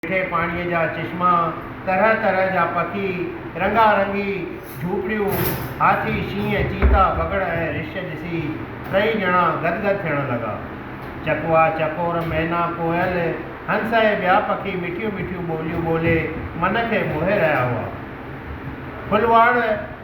مٺي پاڻيء جا چشما، طرح طرح جا پکي، رنگا رنگي جهوپڙيون، هاٿي، شينهن، چيتا، بگهڙ ۽ رڇ ڏسي ٽئي ڄڻا گد گد ٿيڻ لڳا. چڪوا، چڪور، مينا، ڪوئل، هنس ۽ ٻيا پکي مٺيون مٺيون ٻوليون ٻولي من کي موهي رهيا هئا. ڦلواڙ،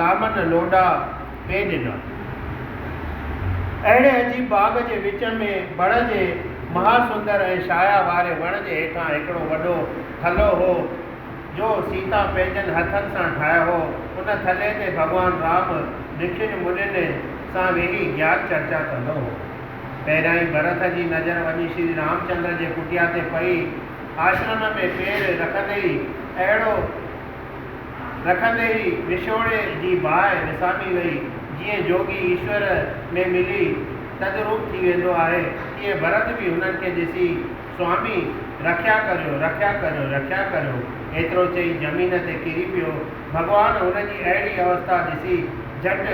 لامن لوڏا پئي ڏنا. اهڙي عجيب باغ جي وچ ۾ بڻ جي مها سندر ۽ شايا واري وڻ جي هيٺان هڪڙو وڏو ٿلهو هو، جو سيتا پنهنجن هٿن سان ٺاهيو هو. ان ٿلهي تي ڀڳوان رام رشين منين سان ويهي گيان چرچا ڪندو هو. پهريائين ڀرت جي نظر وڃي شري رامچندر جي ڪٽيا تي پئي. آشرم ۾ پير رکندي ئي اهڙو رکندي ئي وڇوڙي جي باهه وسامي وئي. جيئن جوڳي ايشور ۾ ملي تدروپ ٿي ويندو آهي، تيئن ڀرت به هنن کي ڏسي سوامي رکيا ڪريو، رکيا ڪريو، رکيا ڪريو ايترو چئي زمين تي ڪري پيو. ڀڳوان هن جي اهڙي اوستا ڏسي جهٽ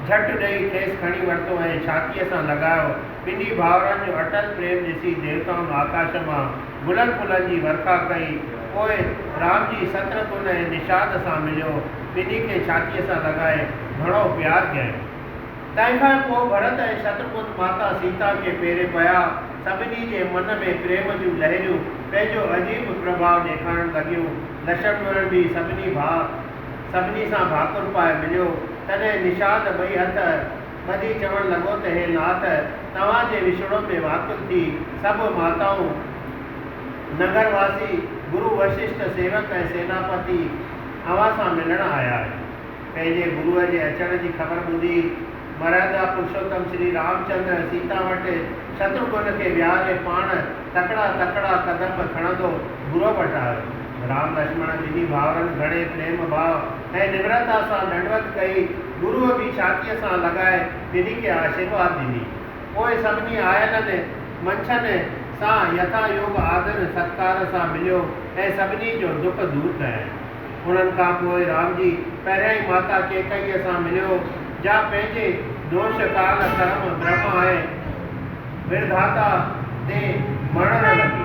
جهٽ ڏئي کيس کڻي ورتو ۽ ڇاتيء سان لڳايو. ٻنهي ڀائرن جو اٽل پريم ڏسي ديوتائن آڪاش مان. گلن ڦلن جي ورکا ڪئي. پوء رام جي ستر تون ۽ نشاد سان مليو. ٻنهي کي ڇاتيء سان لڳائي گهڻو پيار ڪيائين. تنهن کان پوء ڀرت ۽ شترگهن ماتا سيتا کي پيري پيا. سڀني جي من ۾ پريم جون لهريون پنهنجو عجيب پرڀاء ڏيکارڻ لڳيون. لشمڻ به سڀني ڀاء سڀني سان ڀاڪر پائي مليو. تڏهن نشاد ٻئي هٿ. ٻڌي چوڻ لڳو ته هي نات توهان جي وڇوڙو ۾ واڪل ٿي سڀ ماتائون، نگر واسي، گرو وششٽ، سيوڪ ۽ سيناپتي اوهان سان ملڻ آيا آهن. پنهنجي گرو جي اچڻ جي خبر ٻڌي مرهندا پرشوتم شري رامچندر سيتا وٽ شترگهن کي ويهاري پاڻ تڪڙا تڪڙا قدم کڻندو گرو وٽ آيو. رام لڇمڻ ٻنهي ڀائرن گهڻي پريم ڀاء ۽ نمرتا سان ڏنڊوت ڪئي. گروء به ڇاتيء سان لڳائي ٻنهي کي آشيرواد ڏني. پوء سڀني آيلن منڇن سان يٿا يوگ آدر ستڪار سان مليو ۽ سڀني جو دک دور ڪيائين. انهن کان پوء رام جي پهريائين ماتا ڪيڪئيء سان مليو، جا پنهنجي دوش، ڪال، ڪرم، برهما ۽ ورداتا تي مڙهڻ لڳي.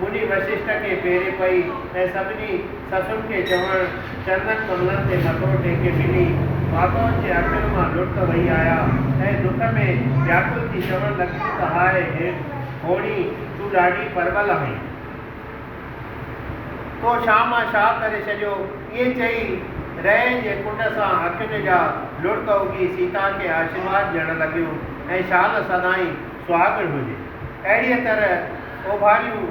مني وششٽ کي ڦيري پئي ۽ سڀني سسن کي چوڻ چرنن ڪملن تي مٿو ٽيڪي ملي ماڌوء جي اکين مان لڙڪ وهي آيا ۽ دک ۾ وياڪل ٿي چوڻ لڳيون ته هاء هوڻي تون ڏاڍي پرٻل آهين. تو شاهه مان شاهه ڪري ڇڏيو. ائين چئي رئي جي ڪنڊ سان اکين جا لڙڪ اگهي سيتا کي آشيرواد ڏيڻ لڳيون ۽ شال سدائين سهاڳڻ هجي. اهڙيء طرح اوڀاريون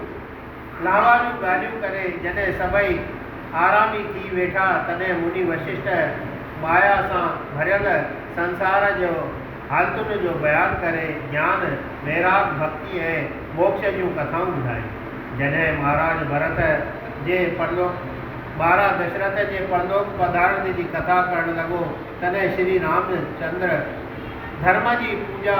لهواريون ڳالهيون ڪري جڏهن سڀئي آرامي ٿي ويٺا، تڏهن مني وششٽ مايا سان ڀريل سنسار جي حالتن جو بيان ڪري جيان، ويراڳ، ڀڳتي ۽ موڪش جون ڪٿائون ٻڌايون. جڏهن مهاراج ڀرت جي پرلوڪ ٻارا دشرٿ جي پرلوڪ پڌارڻ جي ڪٿا ڪرڻ لڳو، تڏهن شري رام چندر ڌرم جي پوڄا،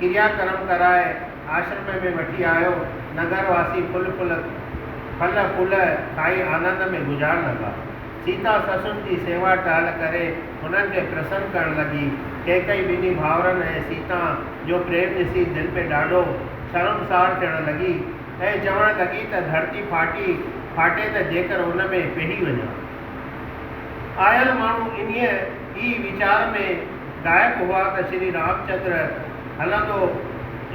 ڪريا ڪرم ڪرائي آشرم ۾ وٺي آيو. نگر واسي ڦل ڦل ڦل ڦول کائي آنند ۾ گذارڻ لڳا. سيتا سسن جي سيوا ٽهل ڪري هنن کي پرسن ڪرڻ لڳي. ڪيڪئي ٻنهي ڀائرن ۽ سيتا جو پريم ڏسي دل ۾ ڏاڍو شرمسار ٿيڻ لڳي ۽ چوڻ لڳي ته ڌرتي ڦاٽي ڦاٽي ته جيڪر ان ۾ پيهي وڃان. آيل ماڻهو انهيء ئي ويچار ۾ ڏاهپ هئا ته شري رامچندر هلندو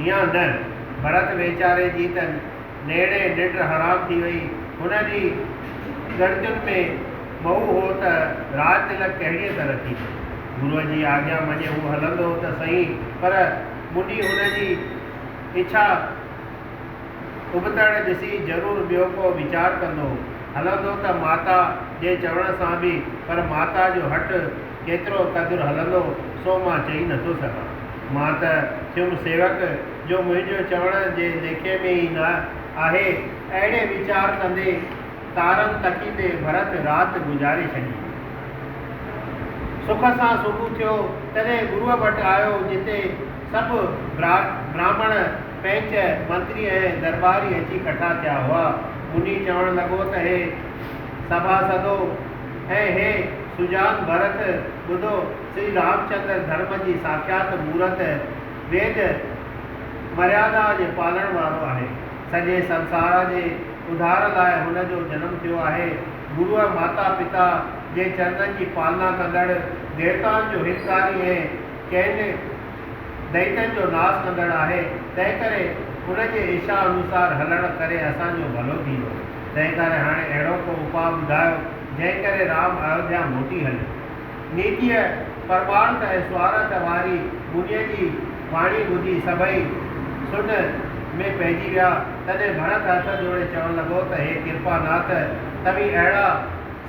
يا نه؟ ڀرت ويچاري جي ته نيڻي ننڊ حرام ٿي وئي. هن جي ڳڻتين ۾ مئو هو ته راج تلڪ ڪهڙيء طرح ٿيندو. گروء جي آجيا مڃي هو هلندو ته سهين پر موني هن جي اڇا اڀتڙ ڏسي ضرور ٻيو ڪو ويچار ڪندو. هلندو ته ماتا جي چوڻ سان به پر ماتا جو هٺ ڪيترو قدر هلندو سو مان چئي نٿو سگهان. مان ته ٿيم سيوڪ جو منهنجو چوڻ جي ليکي ۾ ئي نه آهي. اهڙي ويچار ڪندي تارن تڪيندي ڀرت رات گذاري ڇڏي. سک سان صبح ٿيو تڏهن گروء وٽ آيو جتي سڀ براهمڻ پئنچ منتري ۽ درٻاري اچي ڪٺا ٿيا هئا. منهي چوڻ لڳو ته هي سڀاسدو! هي هي سجان ڀرت ٻڌو، سري رامچندر ڌرم جي ساکيات مورت، ويد مريادا جي پالڻ وارو آهي. سڄي سنسار جي اڌار لاء هن جو جنم ٿيو آهي. گروء ماتا پتا جي چرنن جي پالنا ڪندڙ، ديوتائن جو هتڪاري ۽ چئن دئيتن جو ناس ڪندڙ آهي، تنهنڪري ان جي اشا انوسار هلڻ ڪري اسان جو ڀلو ٿيندو. تنهن ڪري هاڻي اهڙو ڪو اپاء ٻڌايو، جنهن ڪري رام ايوڌيا موٽي هلي. نيچيء پرمارٿ ۽ سوارٿ واري منيء جي واڻي ٻڌي سڀئي سنهه ۾ پئجي ويا. تڏهن ڀرت هٿ جوڙي چوڻ لڳو ته هي ڪرپا ناٿ، توهين اهڙا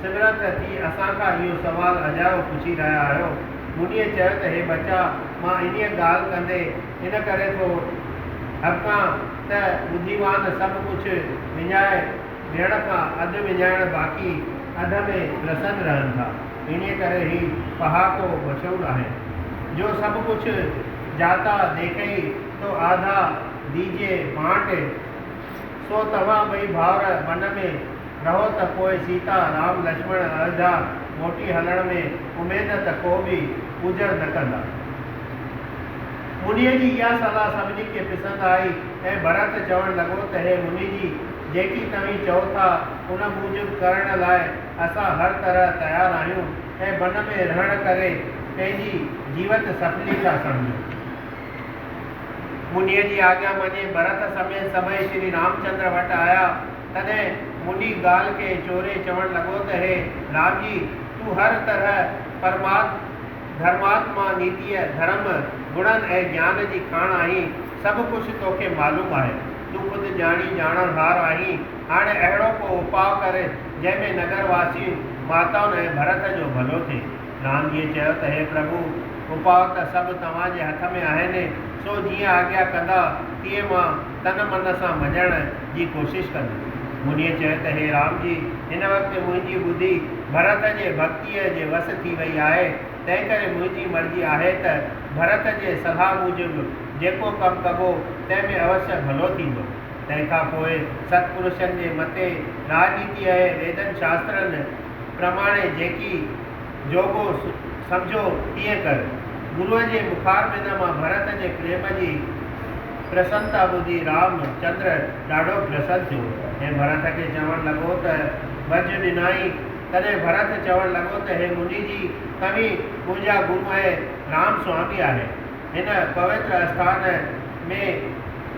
سمرٿ ٿي اسان کان اهو سوال اجايو پڇي رهيا آهيو. منيء چيو ته هي ٻچا، مان انهيء ڳالهه ڪندي، ان ڪري ٿو ڏھڪان ته ٻڌيوان سڀ ڪجھه وڃائي ڏيڻ کان اڌ وڃائڻ باقي اڌ ۾ پرسن رھن ٿا. انھيء ڪري ھي پھاڪو مشھور آھي. جو سڀ ڪجھه جاتا ديکئي تو آڌا ديجي بانٽ سو توھان ٻئي ڀائر ون ۾ رھو ته پوء سيتا، رام، لڇمڻ ايوڌيا موٽي ھلڻ ۾ اميد ته ڪو به پوڄر نه ڪندا. منهيء جي اها صلاح سڀني کي پسند آئي ۽ ڀرت چوڻ لڳو ته هي منهي جي، جيڪي توهين چئو ٿا، ان موجب ڪرڻ لاء اسان هر طرح تيار آهيون ۽ بن ۾ رهڻ ڪري پنهنجي جيوت سڦلي ٿا سمجهون. منهيء جي آجيا مڃي ڀرت سميت سڀئي شري رامچندر وٽ آيا. تڏهن منهي ڳالهه کي چوري چوڻ لڳو ته هي رام جي، تون هر طرح پرماد، ڌرماتما، نيتيء، ڌرم، گڻن ۽ گيان جي کاڻ آهين، سڀ ڪجهه توکي معلوم آهي. تون خود ڄاڻي ڄاڻڻهار آهين. هاڻي اهڙو ڪو اپاء ڪر، جنهن ۾ نگر واسين، ماتائن ۽ ڀرت جو ڀلو ٿئي. نانڌيء چيو ته هي پرڀو! اپاء ته سڀ توهان جي هٿ ۾ آهن، سو جيئن آجيا ڪندا، تيئن مان. تن من سان مڃڻ جي ڪوشش ڪندس. منھنيء چيو ته هي رام جي! هن وقت منھنجي ٻڌي ڀرت جي ڀڳتيء جي وس ٿي وئي آهي، تنھنڪري منھنجي مرضي آهي ته ڀرت جي صلاح موجب جيڪو ڪم ڪبو تنھن ۾ اوشيء ڀلو ٿيندو. تنھن کان پوء ست پرشن جي متي راڄنيتيء ۽ ويدن شاسترن پرماڻي جيڪي جوڳو سمجهو تيئن ڪر. گروء جي مخاربينه مان ڀرت جي پريم جي پرسنتا ٻڌي رام چندر ڏاڍو پرسن ٿيو ۽ ڀرت کي چوڻ لڳو ته ڀڄ ڏنائين. تڏهن ڀرت چوڻ لڳو ته هي مني جي توهين منهنجا گرو ۽ رام سوامي آهيو. هن پوتر آسٿان ۾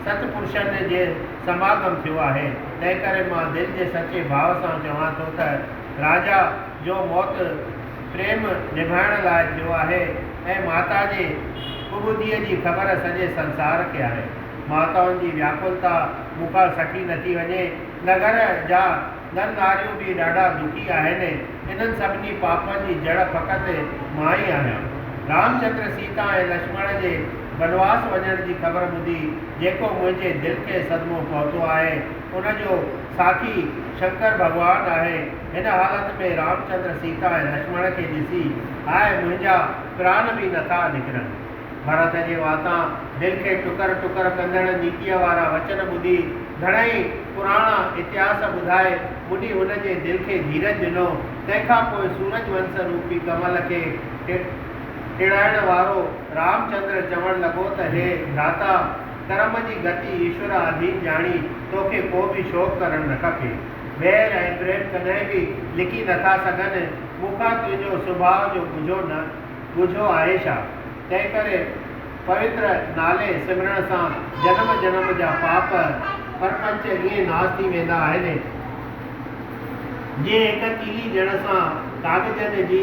ست پرشن جي سماگم ٿيو آهي. تنهنڪري مان دل جي سچي ڀاء سان چوان ٿو ته راجا جو موت پريم نڀائڻ لاء ٿيو آهي ۽ ماتا جي ڪٻوڌيء جي خبر سڄي سنسار کي آهي. ماتائن جي وياڪلتا مون کان سٺي نٿي وڃي. نگر جا نر ناريون به ڏاڍا دکي آهن. انهن سڀني پاپن جي جڙ فقط مان ئي آهيان. رامچندر سيتا ۽ لڇمڻ جي بنواس وڃڻ جي خبر ٻڌي جيڪو منهنجي دل کي صدمو پهتو آهي ان جو ساکي شنڪر ڀڳوان آهي. هن حالت ۾ رامچندر سيتا ۽ لڇمڻ کي ڏسي هاء منهنجا پران به نه ٿا نڪرن. ڀرت جي واتان دل کي ٽڪر ٽڪر ڪندڙ نيڪيء وارا وچن ٻڌي گهڻائي پراڻا اتهاس ٻڌائي ٻڏي هن جي دل کي ڌيرج ڏنو تنهن کان پوء سورج ونس روپي ڪمل کي ٽڙائڻ وارو رامچندر چوڻ لڳو ته هي ڀراتا! ڪرم جي گتي ايشور آڌين ڄاڻي توکي ڪو به شوق ڪرڻ نه کپي. بيل ۽ بريل ڪڏهن به لڪي نه ٿا سگهن، مون کان تنهنجو سڀاء جو ڳجهو نه ڳجهو آهي ڇا؟ تنهنڪري پوتر نالي سمرڻ سان جنم جنم جا پاپ پرپنچ ائين ناس ٿي ويندا آهن، جيئن هڪ تيلي ڏيڻ سان ڪاڳجن جي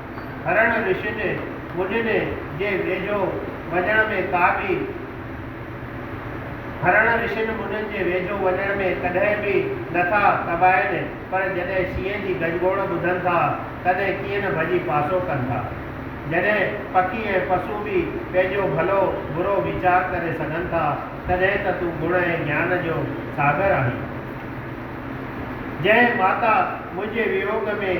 هرڻ رشد مجد جي ويجهو وڃڻ ۾ ڪا به هرڻ رشد مجد جي ويجهو وڃڻ ۾ ڪڏهن به نه ٿا ڪٻائين پر جڏهن شينهن جي گجگوڙ ٻڌن ٿا تڏهن ڪيئن نه ڀڄي پاسو ڪن ٿا. جڏهن پکي ۽ پسو به پنهنجو ڀلو برو ويچار ڪري سگهن ٿا تڏهن ته تون گڻ ۽ گيان جو ساگر آهين. جنهن ماتا منهنجي ويوڳ ۾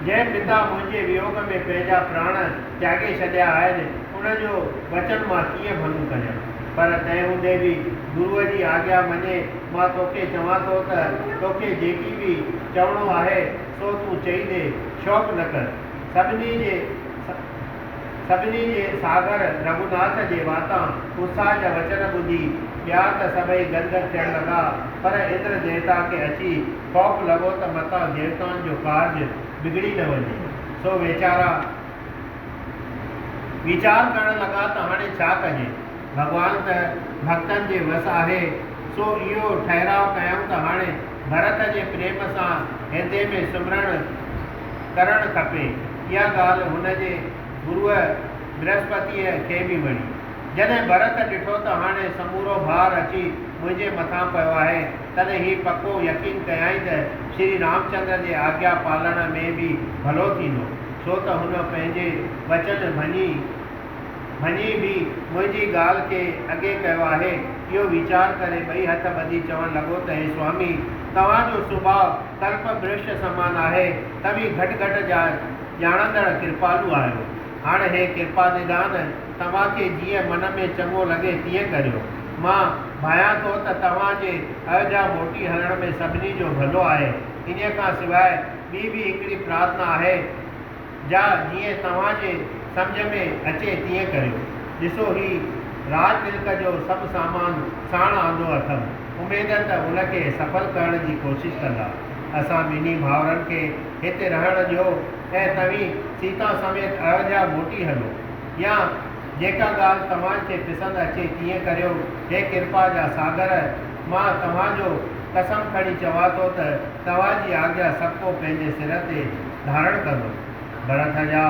جنهن پتا منهنجي ويوڳ ۾ پنهنجا پراڻ تياڳي ڇڏيا آهن، ان جو وچن مان ڪيئن ڀڱ ڪريان؟ پر تنهن هوندي به گروء جي آگيا مڃي مان توکي چوان ٿو ته توکي جيڪي به چوڻو آهي، سو تون چئي ڏي، شوق نه ڪر. سڀني جي سڀني جي ساگر رگهوناٿ جي واتان اتساهه جا وچن ٻڌي ٻيا ته سڀئي گد گد ٿيڻ لڳا، پر اندر ديوتا کي اچي خوف لڳو ته متان ديوتائن جو ڪارج بگڙي نه وڃي، سو ويچارا ويچار ڪرڻ لڳا ته هاڻي ڇا ڪجي؟ ڀڳوان ته ڀڳتن جي وس آهي، سو اهو ٺهراء ڪيائون ته هاڻي ڀرت جي پريم سان هردي ۾ سمرڻ ڪرڻ کپي. اها ڳالهه هن جي گروء برهسپتيء کي به وڻي. جڏهن ڀرت ڏٺو ته هاڻي سمورو ڀار اچي منهنجي مٿان پيو آهي، تڏهن هي پڪو يقين ڪيائين ته شري رامچندر جي آگيا پالڻ ۾ به ڀلو ٿيندو، ڇو ته هن پنهنجي وچن ڀڃي ڀڃي به منهنجي ڳالهه کي اڳي ڪيو آهي. اهو ويچار ڪري ٻئي هٿ ٻڌي چوڻ لڳو ته هي سوامي! توهان جو سڀاء ڪلپ برش سمان آهي. توهين گهٽ گهٽ جا ڄاڻندڙ ڪرپالو آهيو. هاڻ هي ڪرپا نڌان توهان کي جيئن من ۾ چڱو لڳي تيئن ڪريو. مان ڀانيان ٿو ته توهان جي اھه جا موٽي ھلڻ ۾ سڀني جو ڀلو آھي. انھيء کان سواء ٻي به ھڪڙي پرارٿنا آھي جا جيئن توهان جي سمجهه ۾ اچي تيئن ڪريو. ڏسو ھي راڄ ملڪ جو سڀ سامان ساڻ آندو اٿم. اميد ته ان کي سڦل ڪرڻ جي ڪوشش ڪندا. اسان ٻنھي ڀائرن کي ھتي رھڻ ڏيو ۽ توھين سيتا سميت اھه جا موٽي ھلو. يا. جيڪا ڳالهه توهان کي پسند اچي تيئن ڪريو. هي ڪرپا جا ساگر! مان توهان جو قسم کڻي چوان ٿو ته توهان جي آگيا سڀ ڪو پنهنجي سر تي ڌارڻ ڪندو. ڀرت جا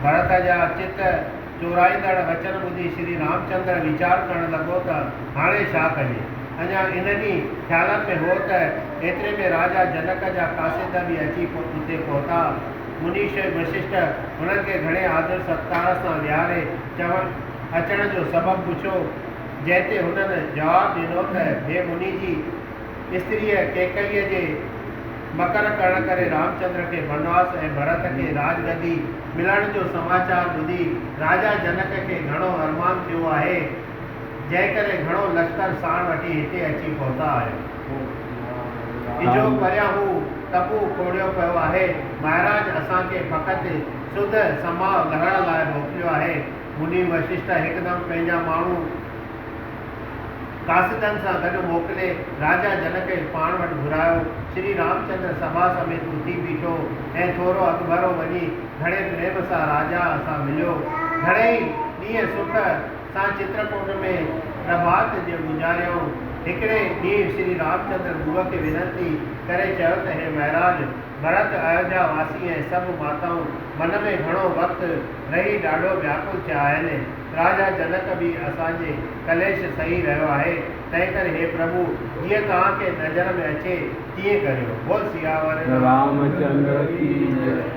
ڀرت جا چت چورائيندڙ وچن ٻڌي شري رامچندر ويچار ڪرڻ لڳو ته هاڻي ڇا ڪجي؟ اڃا انهن ئي خيالن ۾ هو ته ايتري ۾ راجا جنڪ جا قاصد به اچي اتي پهتا. منيش ۽ وششٽ هنن کي گهڻي آدر ستڪار سان ويهاري چون اچڻ جو سبب پڇيو، جنهن تي هنن جواب ڏنو ته هي مني جي استريء ڪيڪئيء جي مڪر ڪرڻ ڪري رامچندر کي بنواس ۽ ڀرت کي راڄ گدي ملڻ جو سماچار ٻڌي راجا جنڪ کي گهڻو ارمان ٿيو آهي. جنهن ڪري گهڻو لشڪر ساڻ وٺي هتي اچي پهتا آهيو. اجهو پريان هو ٽٻو کوڙيو پيو آهي. مهاراج اسان کي فقط سڌ سماء لهڻ لاء موڪليو آهي. مني وششٽ هڪدم پنهنجا ماڻهو قاصدن سان گڏ موڪلي راجا جنڪ کي پاڻ وٽ گهرايو. شري رامچندر سڀا سميت اٿي بيٺو ۽ ٿورو اڳڀرو وڃي گهڻي پريم سان راجا سان مليو. گهڻيئي ڏينهن سک سان چترڪوٽ ۾ پرڀات جي گذاريائون. هڪڙي ڏينهن شري رامچندر گوء کي وينتي ڪري چيو ته هي مهراج، ڀرت، ايوڌيا واسي ۽ سڀ ماتائون من ۾ گهڻو وقت رهي ڏاڍو وياڪل ٿيا آهن. راجا جنڪ به اسان جي ڪليش سهي رهيو آهي. تنهنڪري هي پرڀو جيئن توهان کي نظر ۾ اچي تيئن ڪريو. بول سياور رامچندر ڪي جئي.